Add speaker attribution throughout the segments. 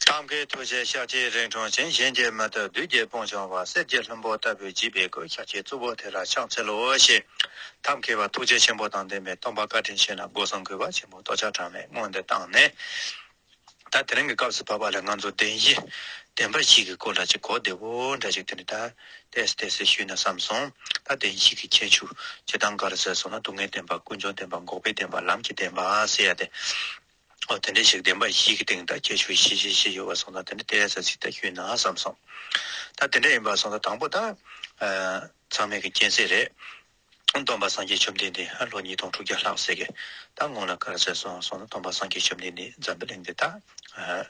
Speaker 1: ཐབས་མཁས་ཐུགས་རྗེའི་ཤགས་ཀྱིས་རིང་ཐུང་ཅན་གཞན་གྱིས་མི་ཐུབ་བདུད་རྒྱལ་སྤུངས་བྱང་བ་གསེར་གྱི་ལྷུན་པོ་ལྟ་བུའི་བརྗིད་པའི་སྐུའི་ཤགས་ཀྱི་གཙུག་པོ་དེ་ལ་ཕྱག་འཚལ་ལོ་ཞེས་ཐབས་མཁས་པ་ཐུགས་རྗེ་ཆེན་པོ་དང་ལྡན་པའི་སྟོང་པ་བཀའ་དྲིན་ཆེ་ལ་སྒོ་གསུམ་གུས་པ་ཆེན་པོས་རྟོགས་བྱ་གྲངས་མེད་སྔོན་དུ་བཏང་ནས། ད་དེ་རིང་གི་སྐབས་སུ་བབ་པ་ལ་ང་ཚོ་བདེན་བཞི་བདེན་པ་ཞིག་གི་སྐོར་ལ་ཅིག་གོ་བདེ་བོ་འདྲ་ཞིག་དེ་འདྲ་ད་ལྟས་ལྟས་སུ་ཞུས་ན་བསམ་སོང། ད་བདེན་བཞི་གི་ཁྱད་ཆོས་ཇི་ལྟར་འགའ་རེ་ཟེར་སོང་ན་སྡུག་བསྔལ་བདེན་པ་ཀུན་འབྱུང་བདེན་པ་འགོག་པའི་བདེན་པ་ལམ་གྱི་བདེན་པ་ཟེར་ཡ་དེ། ཨོ་དེ་འདྲའི་ཞིག་བདེན་པ་བཞི་གི་སྟེང་དང་ཁྱད་ཆོས་བཞི་བཞི་བཞི་ཡོད་པར་སོང་ད་དེ་འདྲ་བལྟས་ས་ཚིག་ད་ཤུལ་ན་བསམ་སོང། ད་དེ་འདྲ་ཡིན་པར་སོང་ད་དང་པོ་ད། ཚང་མེད་ཀྱི་རྐྱེན་ཚེ་རེད། སྟོང་པ་སངས་རྒྱས་བཅོམ་ལྡན་འདས་ཧ་ལོ་ཉིས་སྟོང་དྲུག་བརྒྱ་ལྷག་ཟེར་གི་ད་སྔོན་ལ་ག་ར་ཟེར་སོང་སོང་ད་སྟོང་པ་སངས་རྒྱས་བཅོམ་ལྡན་འདས་འཛམ་བུ་གླིང་འདི་ད།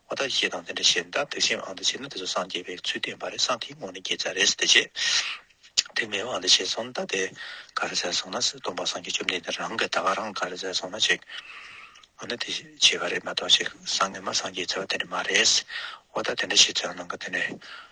Speaker 1: ཨོ་ད་ཞེས་དང་དེ་འདྲ་ཞེས་མདའ་བོད་ཤན་ཨང་དང་བྱས་ན་དེ་ཚོ་སངས་རྒྱས་པའི་ཚུལ་སྟོན་པ་རེད་སངས་དེའི་ངོ་ནས་རྒྱལ་ཚ་རེད་ཟེར་དེ་རྗེས་དེ་མེ་འོང་དང་བྱས་སོང་མདའ་དེ་ག་རེ་ཟེར་སོང་ན་སྲིད་སྟོང་པ་སངས་རྒྱས་བཅོམ་ལྡན་འདས་རང་གི་ད་ག་རང་ག་རེ་ཟེར་སོང་ན་ཅིག་ཨོ་ན་དེ་བྱས་པ་རེད་མ་གཏོགས་ཅིག་སངས་ངེ་མ་སངས་རྒྱས་ཚོལ་བ་དེ་འདྲ་མ་རེད། ཨོ་ད་དེ་འདྲ་ཞེས་ཚོལ་བ་ནང་གི་དེ་འདྲ་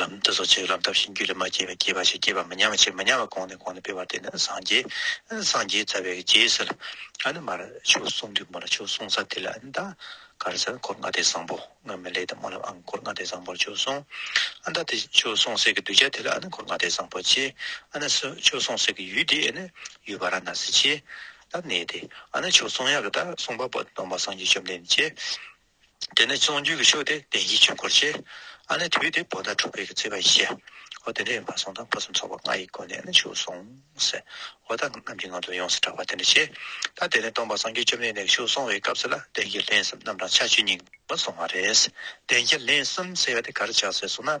Speaker 1: ལམ་དུ་སོགས་ཆོས་ལམ་ཐབས་ཤེས་རྒྱུད་ལས་མ་སྐྱེས་པའི་སྐྱེས་པ་ཞེས་སྐྱེས་པ་མི་མཉམ་པ་ཆེས་མི་མཉམ་པ་གོང་ནས་གོང་དུ་སྤེལ་བ་དེ་ནི་སངས་རྒྱས། སངས་རྒྱས་རྩ་བའི་རྗེས་སུ་ལ། ཨ་ནི་མར་ཆོས་གསུངས་དུས་མར་ཆོས་གསུང་ས་དེ་ལ་ཨ་ནི་ད་གར་ཟེར་འཁོར་ལྔ་སྡེ་བཟང་པོ་སྔོན་མི་ལས་དང་སྨོན་ལམ་ཨང་འཁོར་ལྔ་སྡེ་བཟང་པོར་ཆོས་གསུངས། ཨ་ནི་ད་དེ་ཆོས་གསུང་སའི་གི་གདུལ་བྱ་དེ་ལ་ཨ་ནི་འཁོར་ལྔ་སྡེ་བཟང་པོ་ཆེ། ཨ་ནི་སུ་ཆོས་གསུང་སའི་གི་ཡུལ་དེ་ཨེ་ནི་ཡུལ་བ་ར་ན་སི་ཆེ། ད་གནས་དེ་ཨ་ནི་ཆོས་གསུང་ཡག་གི་ད་གསུང་པ་པོ་སྟོང་པ་སངས་རྒྱས་བཅོམ་ལྡན་འདས་ཆེ། དེ་ནས་ཚོང་རྒྱུད་ཀྱི་ཕྱོགས་དེ་བདེན་བཞིའི་ཆོས་འཁོར་ཆེ། ཨ་ནི་དུས་དེ་བོ་ད་དྲུག་པའི་གི་ཚེས་པ་ཡི་ཤེ། ཨོ་དེ་འདྲ་ཡིན་པར་སོང་དང་ཕུན་སུམ་ཚོགས་པ་ལྔ་ཡི་སྒོ་ནས་ནི་ཆུག་སོང། ཨོ་ད་རྣམས་ཀྱི་ངང་དུ་ཡོངས་སུ་གྲགས་པ་དེ་འདྲ་ཆེ། ད་དེ་ནས་སྟོང་པ་སངས་རྒྱས་བཅོམ་ལྡན་འདས་ཀྱི་ཆུག་སོང་བའི་སྐབས་སུ་ལ་བདེན་བཞི་ལྷན་གསུམ་རྣམས་གྲངས་ཆ་བཅུ་གཉིས་པ་སོང་བ་རེད། བདེན་བཞི་ལྷན་གསུམ་ཟེར་བ་དེ་ག་རེ་ཆགས་ཟེར་སོང་ན།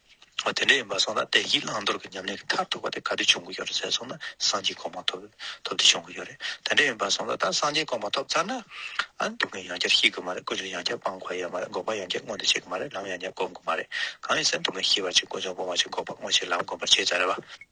Speaker 1: དེ་འདྲ་ཡིན་པར་སོང་ན་བདེ་སྐྱིད་བླང་དོར་གྱི་ཉམས་ལེན་གྱི་མཐར་ཐུག་པ་དེ་ག་དུས་བྱུང་གི་ཡོད་རེད་ཟེར་སོང་ན་སངས་རྒྱས་གོང་མ་ཐོབ་ཐོབ་དུས་བྱུང་གི་ཡོད་རེད་དེ་འདྲ་ཡིན་པར་སོང་ད་ལྟ་སངས་རྒྱས་གོང་མ་ཐོབ་ཚར་ན་ཨང་སྡུག་བསྔལ་ཡང་བསྐྱར་ཤི་དགོས་མ་རེད་ཀུན་སྤྱོད་ཡང་བསྐྱར་སྤང་དགོས་ཡ་མ་རེད་འགོག་པ་ཡང་བསྐྱར་མངོན་དུ་བྱེད་དགོས་མ་རེད་ལམ་ཡང་བསྐྱར་བསྒོམ་དགོས་མ་རེད་གང་ཡིན་ཟེར་སྡུག་བསྔལ་ཞི་བར་བྱེད་ཀུན་སྤྱོད་སྤོང་བར་བྱེད་འགོག་པ་དངོས་བྱེད་ལམ་སྒོམ་པར་བྱེད་ཙམ་རེད་བ།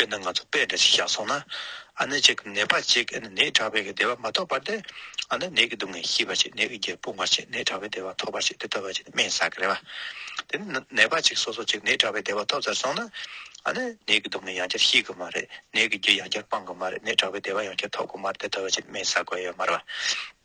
Speaker 1: དཔེར་ན་ང་ཚོ་དཔེ་འདྲ་ཞིག་བཞག་སོང་ན། ཨ་ནེ་ཅིག་གིས་ནད་པ་ཅིག་ནད་དྲག་པས་བདེ་བ་མ་ཐོབ་པར་ཏེ། ཨ་ནེ་ནད་ཀྱི་སྡུག་བསྔལ་ཤེས་པར་བྱེད་ནད་ཀྱི་རྒྱས་སྤོང་བར་བྱེད་ནད་དྲག་པས་བདེ་བ་ཐོབ་པར་བྱེད་དེ་ལྟ་བུ་བྱས་ཏེ་སྨན་བཟའ་གི་རེད་པ། དེ་ནི་ནད་པ་ཅིག་སོ་སོ་ཅིག་ནད་དྲག་པས་བདེ་བ་ཐོབ་ཚར་སོང་ན། ཨ་ནེ་ནད་ཀྱི་སྡུག་བསྔལ་ཡང་བསྐྱར་ཤེས་གི་མ་རེད་ནད་ཀྱི་རྒྱས་ཡང་བསྐྱར་སྤང་གི་མ་རེད་ནད་དྲག་པས་བདེ་བ་ཡང་བསྐྱར་ཐོབ་གི་མ་རེད་དེ་ལྟ་བུ་བྱས་ཏེ་སྨན་བཟའ་དགོས་ཡོད་མ་རེད་པ།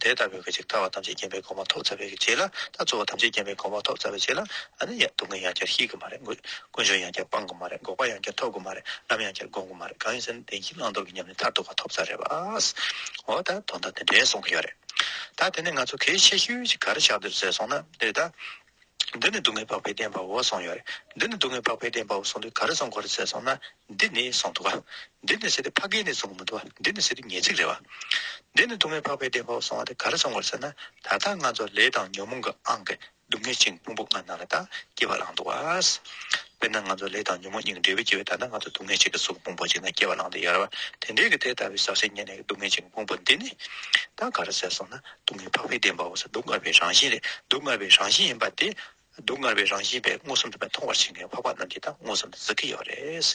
Speaker 1: དེ་ལྟ་བུའི་ཁ་ཅིག་ལྟ་བ་ཐམས་ཅད་བརྒྱན་པའི་གོང་མ་ཐོབ་ཚ་བའི་རྗེས་ལ་ད་གཙོ་བོ་ཐམས་ཅད་བརྒྱན་པའི་གོང་མ་ཐོབ་ཚ་བའི་རྗེས་ལ་ཨ་ནི་ཡང་སྡུག་བསྔལ་ཡང་བསྐྱར་ཤེས་ཀྱི་མ་རེད་འགོད་ཀུན་འབྱུང་ཡང་བསྐྱར་སྤང་གི་མ་རེད་འགོག་པ་ཡང་བསྐྱར་ཐོབ་ཀྱི་མ་རེད་ལམ་ཡང་བསྐྱར་སྒོམ་གྱི་མ་རེད་གང་ཡིན་ཟེར་ན་བདེན་གཉིས་བླང་དོར་གྱི་ཉམས་ལེན་མཐར་ཐུག་པ་ཐོབ་ཚ་རེད་བཱས། འོ་ད་དོན་དག་དེ་འདྲའི་གསུང་གི་ཡོད་རེད། ད་དེ་ནས་ང་ཚོ་གལ་ཆེ་ཤོས་ཤིག་ག་རེ་ཆགས་འདིར་ཟེར་སོང་ན་འདི་རེད་ད། འདི་ནི་སྡུག་བསྔལ་འཕགས་པའི་བདེན་པའོ་གསུངས་ཡོད། འདི་ནི་སྡུག་བསྔལ་འཕགས་པའི་བདེན་པའོ་གསུངས་དུས་ག་རེ་གསུངས་གོ་རེ་ཟེར་སོང་ན། འདི་ནི་གསུངས་འདུག་ག། འདི་ནི་ཟེར་དུས་ཕ་གིའི་ནི་གསུངས་མི་འདུག་ག་འདི་ནི་ཟེར་དུས་ཉེས་ཚིག་རེད་བ། འདི་ནི་སྡུག་བསྔལ་འཕགས་པའི་བདེན་པའོ་གསུངས་བ་དེ་ག་རེ་གསུངས་གོ་རེ་ཟེར་ན། ད་ལྟ་ང་ཚོ་ལས་དང་ཉོན་མོངས་ཀྱི་ཨང་གིས་སྡུག་བསྔལ་ཆིངས་ཕུང་པོ་ལྔ་སྣང་ལ་དང་སྐྱེ་བ་བླངས་འདུག་ག། དཔེར་ན་ང་ཚོ་ལས་དང་ཉོན་མོངས་གཉིས་ཀྱི་འབྲས་བུས་སྐྱེ་བའི་ད་ལྟ་ང་ཚོ་སྡུག་བསྔལ་གཅིག་གི་གཟུགས་ཕུང་པོ་གཅིག་ན་སྐྱེ་བ་བླངས་འདུག་ཡོད་རེད་བ། དེ་འདྲའི་གི་དེ་ལྟ་བུའི་ཟག་བཅས་གཉིས་ནས་ཀྱི་སྡུག་བསྔལ་ཆིངས་ཕུང་པོ་འདི་ནི། ད་ག་རེ་ཟེར་སོང་ན། སྡུག་བསྔལ་འཕགས་པའི་བདེན་པའོ་སྡུག་བསྔལ་བའི་རང་བཞིན་ལས་སྡུག་བསྔལ་བའི་རང་བཞིན་ཡིན་པ་དེ། སྡུག་བསྔལ་བའི་རང་བཞིན་པས་མངོན་སུམ་དུ་མཐོང་བར་བྱེད་མཁན་འཕགས་པ་རྣམས་ཀྱིས་ད་མངོན་སུམ་དུ་གཟིགས་ཀྱི་ཡོད་རེད།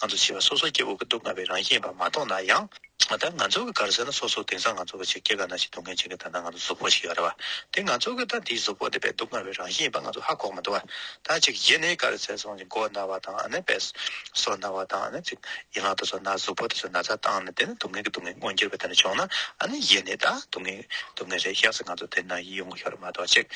Speaker 1: ང་ཚོ་བྱིས་པ་སོ་སོ་སྐྱེ་བོ་གི་སྡུག་བསྔལ་བའི་རང་བཞིན་ཡིན་པ་མ་མཐོང་ན་ཡང། ད་ང་ཚོ་གི་ག་རེ་ཟེར་ན་སོ་སོ་དེང་སང་ང་ཚོ་བ་ཆེ་སྐྱེས་ག་ན་ཞིག་སྡུག་བསྔལ་བྱེད་མཁན་ད་ནང་ང་ཚོ་གཟུགས་པོ་ཞིག་ཡོད་རེད་བ། དེ་ང་ཚོ་གི་ད་འདིའི་གཟུགས་པོ་འདི་བས་སྡུག་བསྔལ་བའི་རང་བཞིན་ཡིན་པ་ང་ཚོ་ཧ་གོ་མི་འདུག་བ། ད་ཅིག་གཞི་ནི་གར་ཟས་སོགས་ཀྱི་མགོ་ན་བ་དང་ནི་བེ་སོ་ན་བ་དང་ནི་ཚིགས་ཡན་ལག་དུ་སོ་ན་གཟུགས་པོ་དེ་ཚོ་ན་ཚ་བཏང་ནས་དེ་ནི་སྡུག་བསྔལ་གྱི་སྡུག་བསྔལ་མངོན་གྱུར་པ་དེ་ནི་བྱུང་ན་ནི་གཞི་ནི་ད་སྡུག་བསྔལ་སྡུག་བསྔལ་རེད་ཤག་སེ་ང་ཚོ་དེ་ན་ཡིད་ཡོངས་ཤོར་མ་གཏོགས་ཅིག།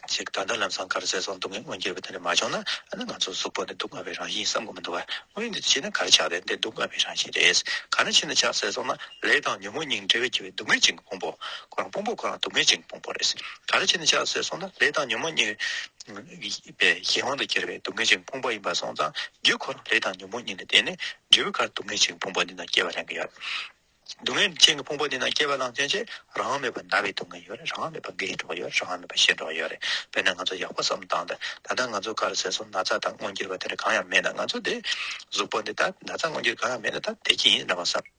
Speaker 1: ཅིག་ད་ལྟ་ལམ་སང་གར་ཟས་སོགས་སྡུག་བསྔལ་མངོན་གྱུར་པ་དེ་ནི་མ་བྱུང་ན་ནི་ང་ཚོ་གཟུགས་པོ་ནི་སྡུག་བསྔལ་བའི་རང་བཞིན་བསམ་དགོས་མི་འདུག་བ་དངོས་འདི་ཕྱིན་ན་གར་ཆགས་རེད་འདི་སྡུག་བསྔལ་བའི་རང་བཞིན་རེད་ག་ནས་ཕྱིན་ན་ཆགས་ཟས་སོགས་ན་ལས་དང་ཉོན་མོངས་སྙིང་འབྲེལ་བས་བགྱི་བའི་སྡུག་བསྔལ་ཅན་གྱི་ཕུང་པོ་ཁོ་རང་ཕུང་པོ་ཁོ་རང་དུ་མེད་ཅིང་སྤོང་པོ་རེད། ག་རེ་བྱས་ནས་ཆགས་སྲེད་སོང་ན་ལས་དང་ཉོན་མོངས་གཉིས། པའི་གཞན་དབང་དུ་གྱུར་པའི་སྡུག་བསྔལ་ཅིང་ཕུང་པོ་ཡིན་པར་སོང་ཙང་རྒྱུ་ཁོ་རང་ལས་དང་ཉོན་མོངས་གཉིས་ནི་བརྟེན་ནས་འབྲས་བུའི་ཁར་སྡུག་བསྔལ་ཅིང་ཕུང་པོ་འདི་རྣམས་སྐྱེ་བ་ལེན་གྱི་ཡོད། སྡུག་བསྔལ་ཅིང་ཕུང་པོ་འདི་རྣམས་སྐྱེ་བ་ལང་ཚོའི་ཕྱིར་རང་མེད་པར་འདའ་བའི་སྡུག་བསྔལ་ཡོད་རེད་རང་མེད་པར་འགའི་གྲོགས་ཡོད་རེད་རང་མེད་པར་གཞན་གྲོགས་ཡོད་རེད་དཔེར་ན་ང་ཚོ་ཡག་པོ་བསམ་བཏང་སྟེ་ད་ལྟ་ང་ཚོ་ག་རེ་ཟེར་སོང་ན་ཚ་དང་སྔོ་འགྱུར་བ་དེ་འདྲ་གང་ཡང་མེད་ན་ང་ཚོ་དེ། གཟུགས་པོ་འདི་ད་ད་ཚ་སྔོ་འགྱུར་གང་ཡང་མེད་ན་ད་བདེ་སྐྱིད་ཡིན་རེད་བསམ།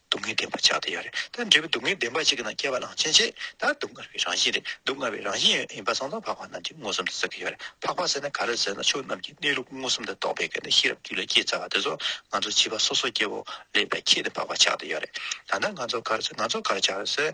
Speaker 1: སྡུག་བསྔལ་བདེན་པ་ཆགས་དེ་ཡོད་རེད་ད། འབྲས་བུ་སྡུག་བསྔལ་བདེན་པ་ཅིག་གི་ནང་སྐྱེ་བ་གླང་ཆེན་ཆེ་ད་སྡུག་བསྔལ་བའི་རང་བཞིན་རེད་སྡུག་བསྔལ་བའི་རང་བཞིན་ཡིན་པ་སང་དང་འཕགས་པ་རྣམས་ཀྱིས་མངོན་སུམ་དུ་གཟིགས་ཀྱི་ཡོད་རེད་འཕགས་པ་ཟེར་ན་ག་རེ་ཟེར་ན་ཆོས་རྣམས་ཀྱི་གནས་ལུགས་མངོན་སུམ་དུ་རྟོགས་པའི་སྐབས་ནས་ཤེས་རབ་རྒྱུད་ལ་སྐྱེས་ཚར་བ་དེ་ཚོ་ང་ཚོ་བྱིས་པ་སོ་སོ་སྐྱེ་བོ་ལེགས་པའི་ཁྱད་དུ་འཕགས་པ་ཆགས་དེ་ཡོད་རེད་ད་ནང་ང་ཚོ་ག་རེ་ཟེར་ང་ཚོ་ག་རེ་ཆགས་ཡོད་ཟེར།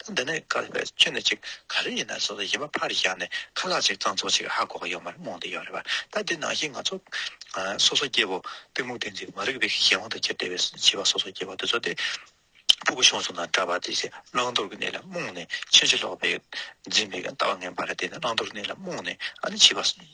Speaker 1: ད་འདི་ནས་བསྐལ་པའི་ཆུ་ནི་ཅིག་ག་རེ་ཡིན་ནའི་སོ་སོ་ཡིན་པ་ཕར་བཞག་ནས་ཁ་ལག་ཅིག་གཙང་བཙོག་ཅིག་ཧ་གོ་གི་ཡོད་མ་རེད་རྨོངས་དེ་ཡོད་རེད་བ་ད་འདི་ནང་བཞིན་ང་ཚོ་སོ་སོ་སྐྱེ་བོ་གཏི་མུག་བདེན་ཚིག་མ་རིག་པའི་གཞན་དབང་དུ་གྱེར་བསྡད་པའི་བྱིས་པ་སོ་སོ་སྐྱེ་བོ་དེ་ཚོ་དེ་ཕུ་གུ་ཤོང་ཟོང་དང་འདྲ་བར་དེ་བཞིན་བླང་དོར་གྱི་གནས་ལ་རྨོངས་ནས་ཕྱིན་ཅི་ལོག་པའི་འཛིན་པའི་ལྟ་བ་ངན་པ་རེད་དེ་ནི་བླང་དོར་གནས་ལ་རྨོངས་ནས་ཨ་ནི་བྱིས་པ་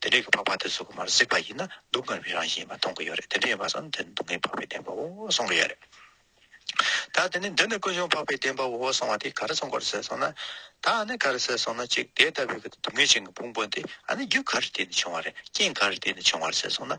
Speaker 1: དེ་འདྲའི་འཕགས་པ་དེ་ཟུག་མར་གཟིགས་པ་ཡིན་ན་སྡུག་བསྔལ་བའི་རང་བཞིན་ཡིན་པ་མཐོང་གི་ཡོད་རེད་དེ་འདྲ་ཡིན་པ་སོང་དེ་ནི་སྡུག་བསྔལ་འཕགས་པའི་བདེན་པའོ་གསུང་གི་ཡོད་རེད། ད་དེ་ནས་འདི་ནི་ཀུན་འབྱུང་འཕགས་པའི་བདེན་པའོ་གསུང་བ་དེ་ག་རེ་གསུང་གོ་རེ་ཟེར་སོང་ན། ད་ནི་ག་རེ་ཟེར་སོང་ན་གཅིག་དེ་ལྟ་བུའི་སྡུག་བསྔལ་ཅན་གྱི་ཕུང་པོ་འདི་ཨ་ནི་རྒྱུ་ག་རེ་བརྟེན་ནས་བྱུང་བ་རེད་རྐྱེན་ག་རེ་བརྟེན་ནས་བྱུང་བ་རེད་ཟེར་སོང་ན་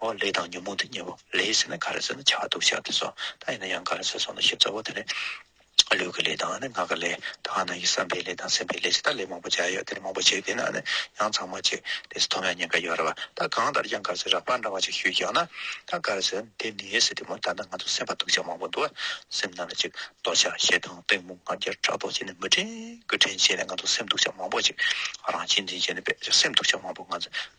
Speaker 1: འོ་ལས་དང་ཉོན་མོངས་དེ་གཉིས་པོ་ལས་ཟེར་ན་ག་རེ་ཟེར་ན་བྱ་བ་སྡུག་བྱ་དེ་སོ་ད་ཡིན་ན་ཡང་ག་རེ་ཟེར་སོང་ན་ཞིབ་ཚགས་པོ་དེ་ལས། ལུས་ཀྱི་ལས་དང་ནི་ངག་གི་ལས་དང་ནི་བསམ་པའི་ལས་དང་སེམས་པའི་ལས་ཞེས་ད་ལས་མང་པོ་བྱ་ཡོད་དེ་ལས་མང་པོ་བྱེད་དེ་ན་ནི་ཡང་ཚང་མ་བྱེད་དེ་ཐོབ་ཡང་ཉེན་ཁ་ཡོད་རེད་བ་ད་གང་ལྟར་ཀྱང་ག་རེ་ཟེར་རགས་པ་འདྲ་བ་ཅིག་ཞུས་ཀྱང་ན་ད་ག་རེ་ཟེར་དེ་ནི་ཟེར་དེ་མོ་ད་ནི་ང་ཚོ་སེམས་པ་སྡུག་བྱ་མང་པོ་འདུག་སེམས་ནང་ལ་ཅིག་རྡོ་ཆ་ཞེ་སྡང་སྟོན་མོ་ང་རྒྱལ་ཕྲག་དོག་བྱས་ནས་མི་དྲན་དགུ་དྲན་བྱས་ནས་ང་ཚོ་སེམས་སྡུག་བྱ་མང་པོ་ཅིག་རང་གཅེས་འཛིན་བྱས་ནས་བས་ཀྱང་སེམས་སྡུག་བྱ་མང་པོ་ང་ཚོ་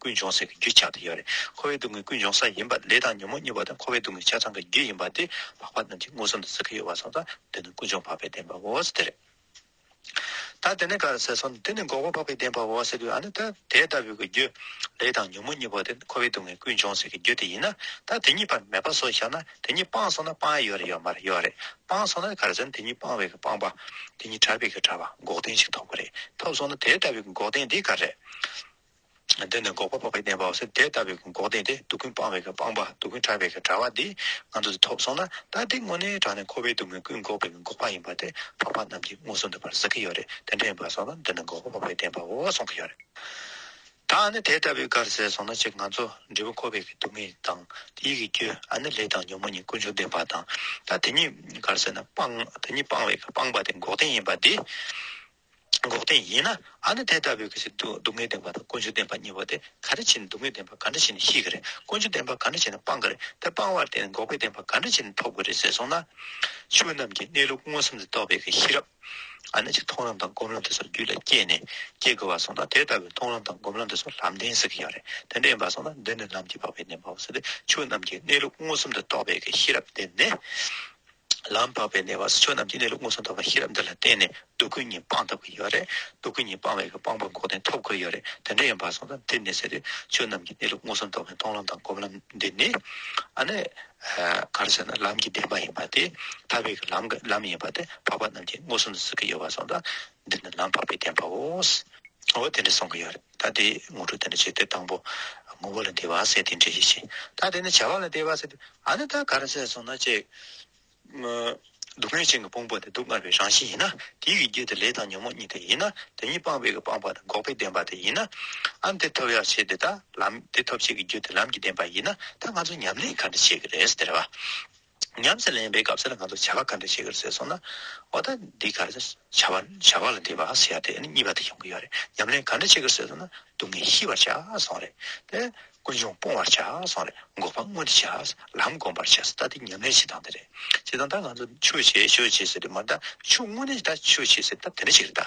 Speaker 1: ཀུན་འབྱུང་ཟེར་གྱི་རྒྱུ་ཆགས་ཏེ་ཡོད་རེད། འཁོར་བའི་སྡུག་བསྔལ་ཀུན་འབྱུང་ས་ཡིན་པ་ལས་དང་ཉོན་མོངས་གཉིས་པ་དང་འཁོར་བའི་སྡུག་བསྔལ་ཆ་ཚང་གི་རྒྱུ་ཡིན་པ་དེ་ལྷག་པ་རྣམས་ཀྱིས་མངོན་སུམ་དུ་གཟིགས་ཀྱི་ཡོད་པ་སོགས་དང་བསྟུན་ནས་ཀུན་འབྱུང་འཕགས་པའི་བདེན་པའོ་ཟེར་ཏེ། ད་དེ་ནི་ག་རེ་ཟེར་སོང་ནས་དེ་ནི་འགོག་པ་འཕགས་པའི་བདེན་པའོ་ཟེར་གྱི་ཡོད་ཨ་ནི་ད་དེ་ལྟ་བུའི་གི་རྒྱུ། ལས་དང་ཉོན་མོངས་གཉིས་པོ་དེ་འཁོར་བའི་སྡུག་བསྔལ་ཀུན་འབྱུང་ཟེར་གྱི་རྒྱུ་དེ་ཡིན་ན་ད་དེ་གཉིས་པར་མེད་པ་སོགས་བཞག་ན་དེ་གཉིས་སྤངས་སོང་ན་སྤངས་ཡས་ཡོད་རེད་ཡོད་མ་རེད་ཡོད་རེད་སྤངས་སོང་ན་ག་རེ་ཟེར་ན་དེ་གཉིས་སྤངས་བའི་གི་སྤངས་པ། དེ་གཉིས་བྲལ་བའི་གི་བྲལ་བ་འགོག་བདེན་ཞིག་ཐོབ་གི་རེད་ཐོབ་སོང་ན་དེ་ལྟ་བུའི་གི་འགོག་བདེན་དེ་ག་རེ། འདི་ནི་འགོག་པ་འཕགས་པའི་བདེན་པའོ་ཟེར་དེ་ལྟ་བུའི་འགོག་བདེན་ཏེ་སྡུག་ཀུན་སྤངས་པའི་སྤངས་པ་སྡུག་ཀུན་དྲག་པའི་དྲག་པ་འདི་ང་ཚོ་འདི་ཐོབ་སོང་ན་ད་འདི་དངོས་གནས་དྲག་ནས་འཁོར་བའི་སྡུག་བསྔལ་ཀུན་འགོག་པའི་འགོག་པ་ཡིན་པ་དེ་འཕགས་པ་རྣམས་ཀྱིས་མངོན་སུམ་དུ་བར་གཟིགས་ཀྱི་ཡོད་རེད་དེ་འདྲ་ཡིན་པར་སོང་ན་འདི་ནི་འགོག་པ་འཕགས་པའི་བདེན་པའོ་གསུང་གི་ཡོད་རེད། ད་ཨ་ནི་དེ་ལྟ་བུའི་གར་ཟེར་སོང་ན་གཅིག་ང་ཚོ་འབྲས་བུ་འཁོར་བའི་སྡུག་བསྔལ་དང་དེ་ཡི་གི་རྒྱུ་ཨ་ནི་ལས་དང་ཉོན་མོངས་གཉིས་ཀུན་འབྱུང་བདེན་པ་དང་ད་དེ་གཉིས་གར་ཟེར་ན་སྤངས་དེ་གཉིས་སྤངས་བའི་སྤངས་པ་དེ་འགོག་བདེན་ཡིན་པ་འདི། འགོག་བདེན་ཡིན་ན་ཨ་ནི་དེ་ལྟ་བུའི་གཞི་སྡུག་བསྔལ་བདེན་པ་དང་ཀུན་སྤྱོད་བདེན་པ་གཉིས་པོ་དེ་ག་འདྲ་བྱས་ནས་སྡུག་བསྔལ་བདེན་པ་ག་འདྲ་བྱས་ནས་ཤེས་ཀྱི་རེད་ཀུན་སྤྱོད་བདེན་པ་ག་འདྲ་བྱས་ནས་སྤང་གི་རེད་དེ་སྤང་བར་བརྟེན་ནས་འགོག་པའི་བདེན་པ་ག་འདྲ་བྱས་ནས་ཐོབ་ཀྱི་རེད་ཟེར་སོང་ན། ཆོས་རྣམས་ཀྱི་གནས་ལུགས་མངོན་སུམ་དུ་རྟོགས་པའི་ཤེས་རབ་ཨ་ནི་ཅིག་མཐོང་ལམ་དང་སྒོམ་ལམ་དེ་སོགས་རྒྱུད་ལ་སྐྱེས་ནས་སྐྱེ་དགོས་པར་སོང་ན་དེ་ལྟ་བུའི་མཐོང་ལམ་དང་སྒོམ་ལམ་དེ་སོགས་ལམ་བདེན་ཟེར་གྱི་ཡོད་རེད་དེ་འདྲ་ཡིན་པར་སོང་ན་འདི་ནི་ལམ་གྱིས་འཕགས་པའི་བདེན་པའོ་ཟེར་ཏེ་ཆོས་རྣམས་ཀྱི་གནས་ལུགས་མངོན་སུམ་དུ་རྟོགས་པའི་ཤེས་རབ་བདེན་ནི། ལམ་འཕགས་པའི་གནས་པ་སོ་སོ་རྣམས་ཀྱི་གནས་ལུགས་མངོན་སུམ་དོགས་པ་ཤེས་རབ་འདི་ལ་བརྟེན་ནས་སྡུག་ཀུན་གཉིས་སྤངས་ཐོབ་ཀྱི་ཡོད་རེད་སྡུག་ཀུན་གཉིས་སྤངས་བས་ཀྱི་སྤངས་པ་འགོག་བདེན་ཐོབ་དགོས་ཡོད་རེད་དེ་འདྲ་ཡིན་པར་སོང་ཙང་དེ་མི་སྲིད་དུས་ཆོས་རྣམས་ཀྱི་གནས་ལུགས་མངོན་སུམ་དོགས་པའི་མཐོང་ལམ་དང་སྒོམ་ལམ་འདི་ནི་ཨ་ནི་གར་ཟེར་ན་ལམ་གྱི་བདེན་པ་ཡིན་པ་དེ་ཐར་བའི་ཀྱི་ལམ་ལམ་ཡིན་པ་དེ་འཕགས་པ་རྣམས་ཀྱིས་མངོན་སུམ་དུ་གཟིགས་ཀྱི་ཡོད་པར་སོང་ཙང་འདི་ནི་ལམ་འཕགས་པའི་བདེན་པའོ། འོ་དེ་འདྲ་སོང་གི་ཡོད་རེད། ཐ་དད་དངོས་གྲུབ་དེ་ནི་ཆེས་སྟོད་དང་པོ། ངོ་བོ་ལ་འདས་པར་ཟད་དེ་འདྲེས་ཡེ་ཤེས། ཐ་དད་ནི་བྱ་བ་ལ་འདས་པར་ཟད་དེ། ཨ་ནི་ཐ་གར་ཟད་སོང་ན་ཅི། སྡུག་བསྔལ་ཅན་གྱི་ཕུང་པོ་དེ་སྡུག་བསྔལ་བའི་རང་བཞིན་ཡིན་ན། དེའི་གེགས་རྒྱུ་དེ་ལས་དང་ཉོན་མོངས་གཉིས་དེ་ཡིན་ན། དེ་གཉིས་སྤངས་པའི་གེགས་སྤངས་པ་དང་འགོག་པའི་བདེན་པ་དེ་ཡིན་ན། ཨ་ནི་དེ་ཐོབ་ཡག་བྱེད་དེ་དག་ལམ། དེ་ཐོབ་བྱེད་ཀྱི་རྒྱུ་དེ་ལམ་གྱི་བདེན་པ་ཡིན་ན། ད་ང་ཚོ་ཉམས་ལེན་ག་འདྲ་བྱེད་ཀྱི་རེད་ཟེར་བ། ཉམས་སུ་ལེན་པའི་སྐབས་སུ་ང་ཚོ་བྱ་བ་ག་འདྲ་བྱེད་དགོས་ཟེར་སོང་ན། འོ་ད་འདི་གར་བྱ་བ་བྱ་བ་ལ་འདི་བ་ཟེར་ཡ་དེ་ནི་གཉིས་པ་དེ་ཡོང་གི་ཡོད་རེད་ཉམས་ལེན་ག་འདྲ་བྱེད་དགོས་ཟེར་སོང་ན་སྡུག་བསྔལ་ཤི་བར་བྱ་སོང་རེད་དེ། ཀུན་འབྱུང་སྤོང་བར་བྱ་སོང་རེད་འགོག་པ་སྔོན་དུ་བྱ་ལམ་སྒོམ་པར་བྱ་སོང་ད་འདི་ཉམས་ལེན་བྱེད་སྟངས་དེ་རེད། བྱེད་སྟངས་ད་ང་ཚོ་ཆོས་བྱེད་ཆོས་བྱེད་ཟེར་དུས་མ་ད་ཆོས་དངོས་གནས་ད་ཆོས་བྱེད་ཟེར་ད་དེ་འདྲ་ཞིག་རེད་ད།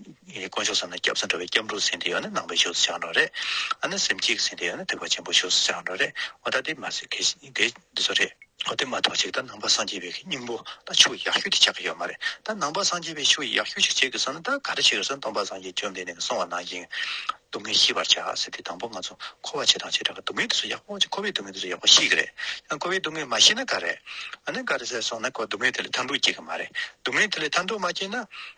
Speaker 1: དཀོན་མཆོག་ཟེར་ན་སྐྱབས་སུ་འགྲོ་བའི་སྐྱབས་འགྲོ་ཟིན་དེ་ཡོད་ན་ནང་པའི་ཆོས་སུ་ཆགས་འགྲོ་རེད། ཨ་ནི་སེམས་སྐྱིད་ཟིན་དེ་ཡོད་ན་ཐེག་པ་ཆེན་པོའི་ཆོས་སུ་ཆགས་འགྲོ་རེད། འོ་ད་དེ་མ་ཟེར་གལ་སྲིད་དེ་འདི་ཚོ་རེད། འོ་དེ་མ་གཏོགས་ཅིག་ད་ནང་པ་སངས་རྒྱས་པའི་སྙིང་པོ་ད་ཆུ་ཡག་ཤོས་དེ་ཆགས་ཀྱི་ཡོད་མ་རེད་ད་ནང་པ་སངས་རྒྱས་པའི་ཆུ་ཡག་ཤོས་ཤིག་ཆགས་ཀྱི་སོང་ན་ད་ག་རེ་བྱེད་དགོས་སམ་སྟོང་པ་སངས་རྒྱས་བཅོམ་ལྡན་འདས་ཀྱི་གསུང་བ་ནང་བཞིན་སྡུག་བསྔལ་ཤི་བར་བྱ་ཟེར་དེ་དང་པོ་ང་ཚོ་འཁོར་བ་ཇེ་དང་ཇེ་དྲག་གི་སྡུག་བསྔལ་དེ་ཚོ་ཡག་པོ་ཅིག་འཁོར་བའི་སྡུག་བསྔལ་དེ་ཚོ་ཡག་པོ་ཤི་གི་རེད་ཡང་འཁོར་བའི་སྡུག་བསྔལ་མ་ཤི་ན་ག་རེ། ཨ་ནི་ག་རེ་ཟེར་སོང་ན་འཁོར་སྡུག་བསྔལ་དེ་ལས་ཐར་འདུག་སྐྱེ་གི་མ་རེད་སྡུག་བསྔལ་དེ་ལས་ཐར་འདུག་མ་སྐྱེས་ན།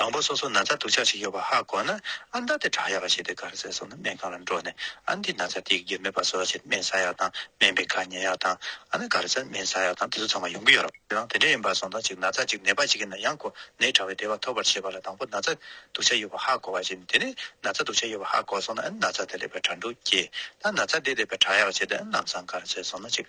Speaker 1: དང་པོ་སོ་སོ་ན་ཚ་དུག་ཆགས་ཤིག་ཡོད་པ་ཧ་གོ་ན་ཨ་མདའ་དེ་བྲག་ཡག་པ་ཞིག་སྟེ་གར་ཟས་སོགས་ནི་སྨན་ཁང་ལ་འགྲོ་ནས་ཨ་འདིས་ན་ཚ་དེའི་རྒྱུ་མེད་པ་སོགས་ཕྱིར་སྨན་བཟའ་ཡག་དང་སྨན་པའི་ཁ་ཉན་ཡག་དང་ཨ་ན་གར་ཟས་སྨན་བཟའ་ཡག་དང་དེ་ཚོ་ཚང་མ་ཡོང་གི་ཡོད་རེད་དང་དེ་འདྲ་ཡིན་པར་སོང་དང་གཅིག་ན་ཚ་གཅིག་ནད་པ་ཞིག་གི་ན་ཡང་ཁོ་ནའི་དྲ་བའི་བདེ་བ་ཐོབ་པར་བྱེད་པ་ལ་དང་པོ་ན་ཚ་དུག་ཆགས་ཡོད་པ་ཧ་གོ་བ་བཞིན་དེ་ནས་ན་ཚ་དུག་ཆགས་ཡོད་པ་ཧ་གོ་སོང་ན་ཨ་ནི་ན་ཚ་དེ་ལེགས་པའི་དྲ་འབྲུ་སྐྱེས་དང་ན་ཚ་འདི་ལེགས་པའི་བྲག་ཡག་བྱས་ཏེ་ཨ་ནམ་སང་གར་ཟས་སོང་ན་གཅིག།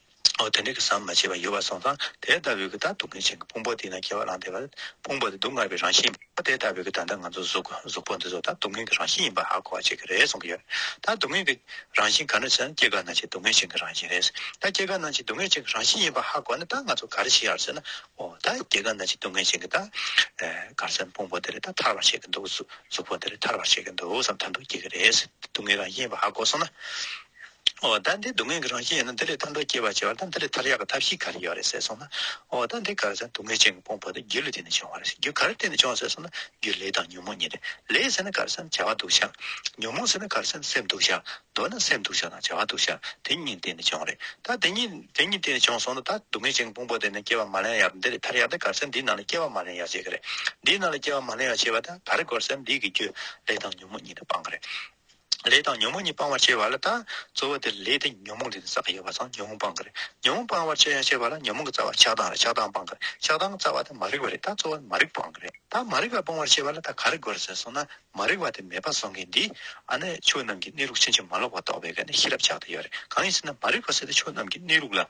Speaker 1: འོ་དེ་འདྲའི་གི་ཟམ་མ་ཆད་པར་ཡོད་པར་སོང་ཙང་དེ་ལྟ་བུའི་གི་ད་སྡུག་བསྔལ་ཆེན་གི་ཕུང་པོ་དེ་ན་སྐྱེ་བ་ལངས་ཏེ་བར་ཕུང་པོ་དེ་སྡུག་བསྔལ་བའི་རང་བཞིན་ཡིན་པ་དེ་ལྟ་བུའི་གི་ད་ལྟ་ང་ཚོ་གཟུགས་གཟུགས་པོ་འདི་ཚོ་ད་སྡུག་བསྔལ་གི་རང་བཞིན་ཡིན་པ་ཧ་གོ་བ་བྱེད་གི་རེད་གསུང་གི་ཡོད། ད་སྡུག་བསྔལ་གི་རང་བཞིན་ག་ནས་ཟེར་ན་སྐྱེ་རྒ་ན་འཆི་སྡུག་བསྔལ་ཆེན་གི་རང་བཞིན་རེད། ད་སྐྱེ་རྒ་ན་འཆི་སྡུག་བསྔལ་ཆེན་གི་རང་བཞིན་ཡིན་པ་ཧ་གོ་ནས་ད་ང་ཚོ་ག་རེ་བྱེད་ཡ་རེད་ཟེར་ན། འོ་ད་སྐྱེ་རྒ་ན་འཆི་སྡུག་བསྔལ་ཆེན་གི་ད་གར་ཟེར་ཕུང་པོ་དེ་རེད་ད་ཐར་བར་བྱེད་གི་འདུག་གཟུགས་པོ་འདི་རེད་ཐར་བར་བྱེད་གི་འདུག་བསམ་ཐར་འདུག་སྐྱེ་གི་རེད། སྡུག་བསྔལ་རང་བཞིན་ཡིན་པ་ཧ་གོ་སོང་ན། འོ་ད་འདི་སྡུག་བསྔལ་གྱི་རང་བཞིན་ཡིན་ན་འདི་ལས་ཐར་འདོད་སྐྱེ་བར་བྱེད་པ་དང་འདི་ལས་ཐར་ཡག་གི་ཐབས་ཤིག་ག་རེ་ཡོད་རེད་ཟེར་སོང་ན། འོ་ད་འདི་ག་རེ་ཟེར་ན་སྡུག་བསྔལ་ཅན་གྱི་དཔུང་བ་དེ་རྒྱུ་ལས་བརྟེན་ནས་བྱུང་བ་རེད་ཟེར་རྒྱུ་ག་རེ་བརྟེན་ནས་བྱུང་བ་ཟེར་སོང་ན་རྒྱུ་ལས་དང་ཉོན་མོངས་གཉིས་རེད་ལས་ཟེར་ན་ག་རེ་ཟེར་ན་བྱ་བ་འདུག་བྱ། ཉོན་མོངས་ཟེར་ན་ག་རེ་ཟེར་ན་སེམས་འདུག་བྱ། འདོད་ན་སེམས་འདུག་བྱ་དང་བྱ་བ་འདུག་བྱ་དེ་གཉིས་བརྟེན་ནས་བྱུང་རེད་ད་དེ་གཉིས་དེ་གཉིས་བརྟེན་ནས་བྱུང་སོང་ན་ད་སྡུག་བསྔལ་ཅན་གྱི་དཔུང་བ་དེ་ནི་སྐྱེ་བ་མ་ལེན་ཡག་དང་འདི་ལས་ཐར་ཡག་དེ་ག་རེ་ཟེར་ན་འདིའི་ནང་ལ་སྐྱེ་བ་མ་ལེན་ཡག་བྱེད་གི་རེད་འདིའི་ནང་ལ་སྐྱེ་བ་མ་ལེན་ཡག་བྱེད་པ་དང་ག་རེ་དགོས་རེད་ཟེར་ན་འདི་གི་རྒྱུ་ལས་དང་ཉོན་མོངས་གཉིས་དང་སྤངས་གི་རེད། ལས་དང་ཉོན་མོངས་གཉིས་སྤང་བར་བྱེད་པ་ལ་དང། རྩོལ་བ་དེ་ལ་ལས་དེ་ཉོན་མོངས་དེ་ནི་ས་ཡོད་པ་དང་ཉོན་མོངས་སྤང་གི་རེད། ཉོན་མོངས་སྤང་བར་བྱེད་ཡང་བྱེད་པ་ལ་ཉོན་མོངས་ཀྱི་རྩ་བ་ཆགས་སྡང་རེད་ཆགས་སྡང་སྤང་གི་རེད་ཆགས་སྡང་རྩ་བ་དེ་མ་རིག་པ་རེད་ད་རྩོལ་བ་ནི་མ་རིག་སྤང་གི་རེད་ད་མ་རིག་པ་སྤང་བར་བྱེད་པ་ལ་ད་ག་རེ་དགོས་ཟེར་སོང་ན་མ་རིག་པ་དེ་མེད་པ་སོང་གི་འདིས་ཨ་ནི་ཆོས་རྣམས་ཀྱི་གནས་ལུགས་ཕྱིན་ཅི་མ་ལོག་པ་རྟོགས་པའི་ག་ནི་ཤེས་རབ་ཆགས་ཏེ་ཡོད་རེད་གང་ཡིན་ཟེར་ན་མ་རིག་པ་ཟེར་ཏེ་ཆོས་རྣམས་ཀྱི་གནས་ལུགས་ལ།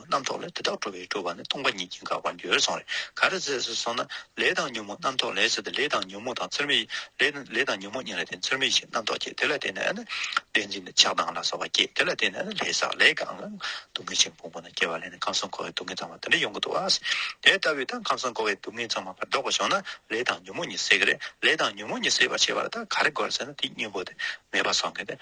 Speaker 1: རྣམ་རྟོག་ལས་དེ་དག་གྲོལ་བས་སྤྲོ་བ་ནི་སྟོང་པ་ཉིད་ཀྱིས་འགགས་པར་འགྱུར་སོང་རེ་ག་རེ་ཟེར་ཟེར་སོང་ན་ལས་དང་ཉོན་མོངས་རྣམ་རྟོག་ལས་ཟེར་ཏེ་ལས་དང་ཉོན་མོངས་དང་ཚུལ་མིན་ལས་དང་ཉོན་མོངས་གཉིས་ལ་བརྟེན་ཚུལ་མིན་ཞིང་རྣམ་རྟོག་སྐྱེ་དེ་ལ་བརྟེན་ནས་ནི་བདེན་འཛིན་ནི་ཆགས་སྡང་ལ་སོགས་པ་སྐྱེ་དེ་ལ་བརྟེན་ནས་ནི་ལས་བསགས་ལས་གང་ལ་སྡུག་བསྔལ་ཆེན་པོ་མང་པོ་རྣམས་སྐྱེ་བ་ལས་ནི་ཁམས་གསུམ་འཁོར་བའི་སྡུག་བསྔལ་ཚང་བ་དེ་འདྲ་ཡོང་གི་འདུག་ཨཱ། དེ་ལྟ་བུའི་ཐང་ཁམས་གསུམ་འཁོར་བའི་སྡུག་བསྔལ་ཚང་མ་པར་བཟློག་པར་ཤོག་ན་ལས་དང་ཉོན་མོངས་གཉིས་བསྲེག་གི་རེད་ལས་དང་ཉོན་མོངས་གཉིས་བསྲེག་པར་བྱེད་པ་ལ་ད་ག་རེ་དགོས་རེ་ཟེར་ན་དེའི་སྙིང་པོ་དེ་མེད་པར་སོང་གི་འདི།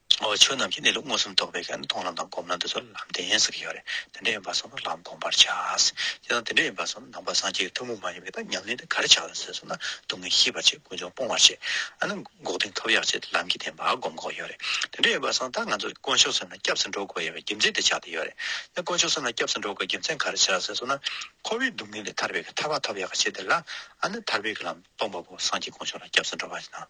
Speaker 1: ཆོས་རྣམས་ཀྱི་གནས་ལུགས་མངོན་སུམ་རྟོགས་པའི་ཀྱང་མཐོང་ལམ་དང་སྒོམ་ལམ་དེ་ཚོ་ལམ་བདེན་ཟེར་གྱི་ཡོད་རེད་དེ་འདྲ་ཡིན་པ་སོགས་ལ་ལམ་སྒོམ་པར་བྱ། དེ་དང་དེ་འདྲ་ཡིན་པ་སོགས་ནང་པ་སངས་རྒྱས་ཀྱི་ཐུན་མོང་མ་ཡིན་པའི་དག་མཉམ་གནས་འདི་གར་བྱ་ལ་ཟེར་སོང་ན་སྡུག་བསྔལ་ཤེས་པར་བྱེད་ཀུན་འབྱུང་སྤོང་བར་བྱེད། ཨ་ནི་འགོག་བདེན་ཐོབ་ཡག་བྱེད་དེ་ལམ་གྱི་བདེན་པ་སྒོམ་འགོག་ཡོད་རེད་དེ་འདྲ་ཡིན་པ་སོགས་ད་ང་ཚོ་དཀོན་མཆོག་སེམས་ལ་སྐྱབས་སུ་འགྲོ་དགོས་ཡོད་པའི་རྒྱུ་མཚན་དེ་ཆགས་དེ་ཡོད་རེད་དེ་དཀོན་མཆོག་སེམས་ལ་སྐྱབས་སུ་འགྲོ་དགོས་རྒྱུ་མཚན་ག་རེ་བྱ་ཟེར་སོང་ན་འཁོར་བའི་སྡུག་བསྔལ་ལས་ཐར་བའི་ཐར་བ་ཐོབ་ཡག་བྱེད་དེ་ལ་ཨ་ནི་ཐར་བའི་ལམ་སྟོང་པ་པོ་སངས་རྒྱས་དཀོན་མཆོག་ལ་སྐྱབས་སུ་འགྲོ་བ་ཡིན་ན།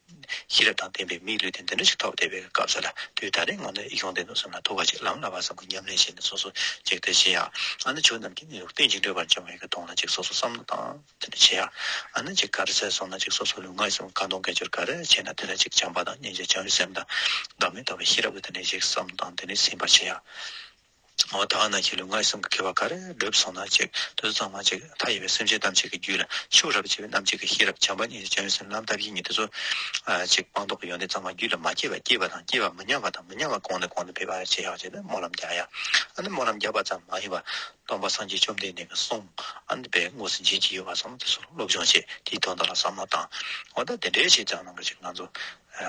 Speaker 1: ཤེས་རབ་དང་ལྡན་པའི་མིའི་ལུས་དེ་འདི་འདྲ་ཞིག་ཐོབ་བསྡད་པའི་སྐབས་སུ་ལ་དུས་ད་རེས་ངོ་ནས་ཡོང་བསྡད་འདུག་བསམ་ན་ཐུགས་ཁ་ཅིག་ལངས་ལ་བར་བསམ་གྱི་ཉམས་ལེན་བྱས་ནས་སོ་སོ་གཅིག་བལྟས་ཤེས་ཡ། ཨ་ན་ཆོས་རྣམས་ཀྱི་གནས་ལུགས་གཏན་གྱི་འགྲོས་པར་འབྱུང་བའི་ཀ་གདོང་ལ་ཅིག་སོ་སོ་བསམ་བློ་བཏང་དེ་འདྲ་བྱེད་ཡ། ཨ་ན་ཅིག་ག་རེ་ཟེར་སོང་ན་ཅིག་སོ་སོ་ལུས་ངག་ཡིད་གསུམ་ཀ་གདོང་སྐད་ཅོར་ག་རེ་བྱས་ན་དེ་ལ་ཅིག་བྱམས་པ་དང་སྙིང་རྗེ་བྱམས་ཡུལ་སེམས་དང་བདག་མེད་རྟོགས་པའི་ཤེས་རབ་ལ་དེ་འདྲའི་ཞིག་བསམ་བཏང་དེ་ནས་ཟིན་པར་བྱེད་ཡ། ཨོ་ད་ཨ་ན་ཁྱེད་ལུས་ངག་སེམས་ཀྱི་ཁེ་བ་གར་བསྒྲུབས་སོང་ན་གཅིག་བདུད་གཙང་མ་གཅིག་མཐའ་ཡས་པའི་སེམས་ཅན་ཐམས་ཅད་ཀྱི་རྒྱུད་ལ་ཕྱུག་རབས་བྱེད་པའི་རྣམ་འབྱེད་ཀྱི་ཤེས་རབ་བྱམས་པ་ཉིད་ཀྱི་བྱང་སེམས་ལམ་ཐབས་ཡིན་ཉིད་དེ་ཚོ་གཅིག་སྤངས་རྟོགས་ཀྱི་ཡོན་ཏན་གཙང་མ་རྒྱུད་ལ་མ་སྐྱེས་པ་སྐྱེས་པ་དང་སྐྱེས་པ་མི་ཉམས་པ་དང་མི་ཉམས་པ་གོང་ནས་གོང་དུ་འཕེལ་བར་བྱེད་ཤག་ཅེས་སྨོན་ལམ་རྒྱག་ཡ། ཨ་ནི་སྨོན་ལམ་རྒྱག་པ་ཙམ་མ་ཡིན་པར་སྟོང་པ་སངས་རྒྱས་བཅོམ་ལྡན་འདས་ཀྱི་གསུང་ཨ་ནི་པའི་དངོས་སུ་འབྱིན་གྱི་ཡོད་པ་སོགས་དེ་ཚོར་སློབ་སྦྱོང་བྱེད་དེའི་དོན་དག་ལ་བསམ་བློ་བཏང། ཨོ་ད་དེ་འདྲའི་བྱས་ཙང་ནང་གི་ཅིག་ང་ཚོ་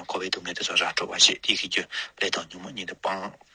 Speaker 1: འཁོར་བའི་སྡུག་བསྔལ་དེ་ཚོ་ར་སྤྲོད་པར་བྱེད་དེ་གི་རྒྱུ་ལས་དང་ཉོན་མོངས་ཉིད་དུ་སྤངས།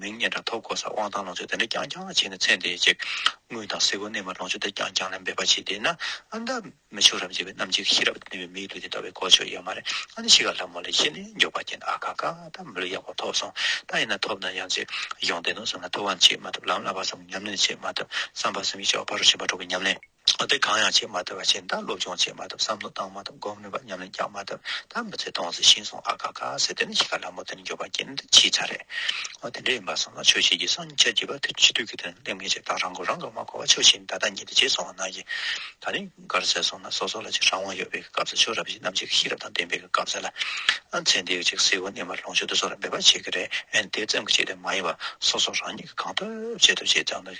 Speaker 1: མིང་སྙན་གྲགས་ཐོབ་དགོས་སར་དབང་ཐང་ལོངས་སྤྱོད་དེ་འདྲ་རྐྱང་རྐྱང་བྱས་ནས་ཚད་འདས་ཀྱི་དངོས་དང་གཟི་ཀོའི་གནས་མར་ལོངས་སྤྱོད་དེ་རྐྱང་རྐྱང་ལ་འབད་པ་བྱེད་བསྡད་ན་ཨ་འདམ་མི་ཆོག་རབ་འཇིགས་པའི་གནམ་གཅིག་ཤི་རབ་ནུས་པའི་མིའི་ལུས་དེ་ལྟ་བའི་གོ་ཆོད་ཡོད་མ་རེད་ཨ་ནི་ཤི་ག་ལྷ་མོ་ལས་ཤི་ནས་མགྱོགས་པ་རྐྱེན་ཨ་ཁ་ཁ་ད་མི་ལུས་ཡག་པོ་ཐོབ་སོང་ད་ཡིན་ན་ཐོབ་ན་ཡང་ཅིག་གཞུང་བསྟེན་ནོ་བསམ་ན་ཐུབ་བམ་ཅིག་མ་ཐུབ་ལམ་བསླབ་པ་བསམ་གྱི་ཉམས་ལེན་ཅིག་མ་ཐུབ་བསམ་པ་བསམ་གྱི་ལྕགས་ཕག་རུ་ཕྱིན་པ་གྲོགས་ཀྱི་ཉམས་ལེན། གཏན་འཁེལ་གང་ཡང་བྱས་མ་ཐུབ་པ་བྱས་མཐར་སློབ་སྦྱོང་བྱས་མ་ཐུབ་བསམ་བློ་བཏང་མ་ཐུབ་སྒོམ་ནུས་པ་ཉམས་ལེན་རྒྱག་མ་ཐུབ་མཐར་མི་ཚེ་སྟོང་ཟད་ཤིང་སོང་ཨ་ཁ་ཁ་ཟེར་དེ་ནི་གཞིས་ཀ་ལྷ་མོ་དེ་ནི་འགྱོད་པ་སྐྱེན་འདི་ཕྱིའི་ཆ་རེད། འོ་དེ་འདྲ་ཡིན་པར་སོང་ན་ཆོས་བྱེད་ཀྱི་སངས་ཆ་བྱིས་པ་དེ་ཕྱི་དུས་ཀྱི་དོན་སླེབས་ངེས་ཆེད་དང་རང་མགོ་རང་གིས་མ་འཁོར་བ་ཆོས་བྱེད་ནི་ད་ལྟ་ཉིད་དུ་བྱེད་སོང་བ་ན་གྱི་ད་ནི་གར་ཟེར་སོང་ན་སོ་སོ་ལ་ཅིག་རང་དབང་ཡོད་པའི་གི་སྐབས་སུ་ཆོས་རབ་བྱེད་རྣམས་ཅིག་གི་ཤེས་རབ་དང་ལྡན་པའི་གི་སྐབས་སེ་ལ་ཚེ་འདིའི་ཅིག་སེའུ་སྣེ་མར་ལོངས་སྤྱོད་དུ་སོ་ལ་འབད་པ་བྱེད་ཀྱི་རེད་དེ་ཙམ་གྱི་ཆེད་དུ་མ་ཡིན་པར་སོ་སོ་རང་ཉིད་ཀྱིས་གང་ཐུབ་བྱེད་ཐུབ་བྱས་ཙང་དུ།